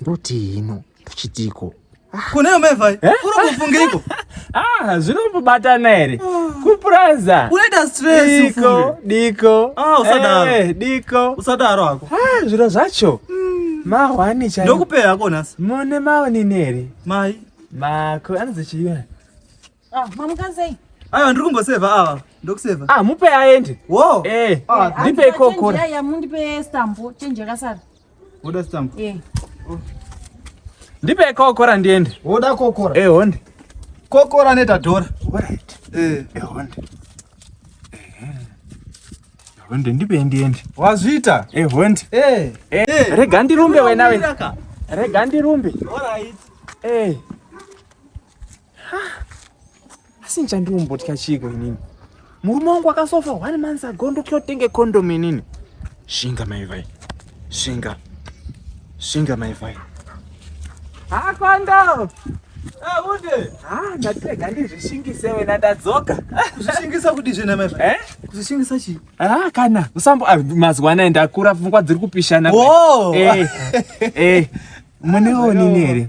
Ndoti hino kuchitiko. Ah. Kune amai vai. Eh? Uri kufungeiko? Ah, zvinobatana here? Ah. Kupuraza. Unoita stress Diko, diko. Ah, usadaro. Eh, diko. Usadaro hako. Ah, zviro zvacho. Hmm. Mahwani chai. Ndokupera hako nhasi. Mone maoni neri. Mai. Mako anozechiyona. Ah, mamuka sei? Ayo ndiri kumboseva ava. Ndokuseva. Ah, mupe aende. Wo. Eh. Ah, eh, ndipe ikoko. Ya ya mundipe stampo change yakasara. Woda stampo? Eh. Oh. Ndipe ikoko ra ndiende. Woda kokora? Eh, honde. Kokora neta dora. Right. Eh, eh honde. Eh. Honde ndipe ndiende. Wazvita? Eh, honde. Eh. Eh. eh. Rega ndirumbe wenawe. Rega ndirumbe. All right. Eh. asi nchandiombotya chiiko inini murume wangu akasofa one months ago ndotya kutenge condom inini shinga maivai shinga shinga maivai ha condom Abude. Ah, ndatega ndizvishingise wena ndadzoka. Kuzvishingisa kuti zvina mai. Eh? Kuzvishingisa chi? Ah, kana. Usambo ah, mazuva anaya ndakura pfungwa dziri kupishana. Oh. Eh. Eh. Mune onini here?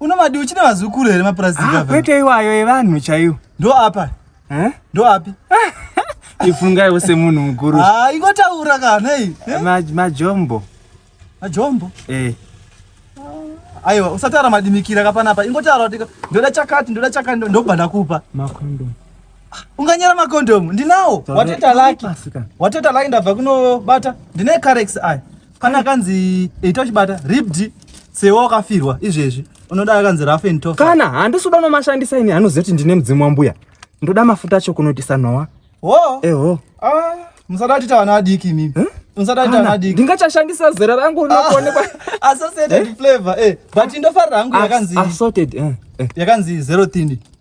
Unomadi uchine vazukuru here mapurasiti ah, ava? Kwete iwayo evanhu chaiwo. Ndo apa. Eh? Ndo api? Ifungaiwo semunhu mukuru. Ah, ingotaura kana iyi. Eh? Ma majombo. Majombo? Eh. Aiwa, usatara madimikira kapana apa. Ingotaura kuti ndoda chakati, ndoda chakati ndobva ndakupa. Makondomu. Ah, unganyera makondomu. Ndinawo. Wateta laki. Wateta laki ndabva kunobata. Ndine carex aya. Kana akanzi ita uchibata ribd sewa wakafirwa izvezvi unoda akanzi rough and tough. Kana handisi kuda unomashandisa ini anoziva kuti ndine mudzimu wambuya. Ndoda mafuta acho kunotisa Noah. Wo? Eho. Ah, musatati tavana adiki imimi. Huh? ndingachashandisa zera rangu rinokuonekwa ah, associated eh? flavor eh but ndofarira hangu yakanzi assorted eh, eh. yakanzi zero thin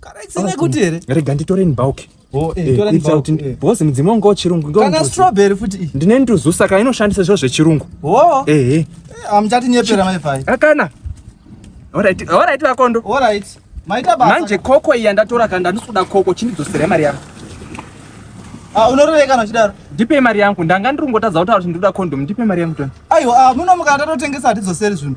Karaisina kuti here? Rega nditore nibauke. Oh, eh, eh, it's out eh. because mudzimu wangu wechirungu kana strawberry futi iyi ndine nduzu saka inoshandisa zviro zvechirungu oh. ehe eh, hamuchatinyepera maifai akana alright alright vakondo alright maita basa manje koko iya ndatora kana ndandisuda koko chindidzosera mari yangu Ah, unorove kana uchidaro ndipe mari yangu ndanga ndiri kungotadza kutaura kuti ndinoda condom ndipe mari yangu tona aiwa ah, muno mukandatotengesa hatidzoseri zvinhu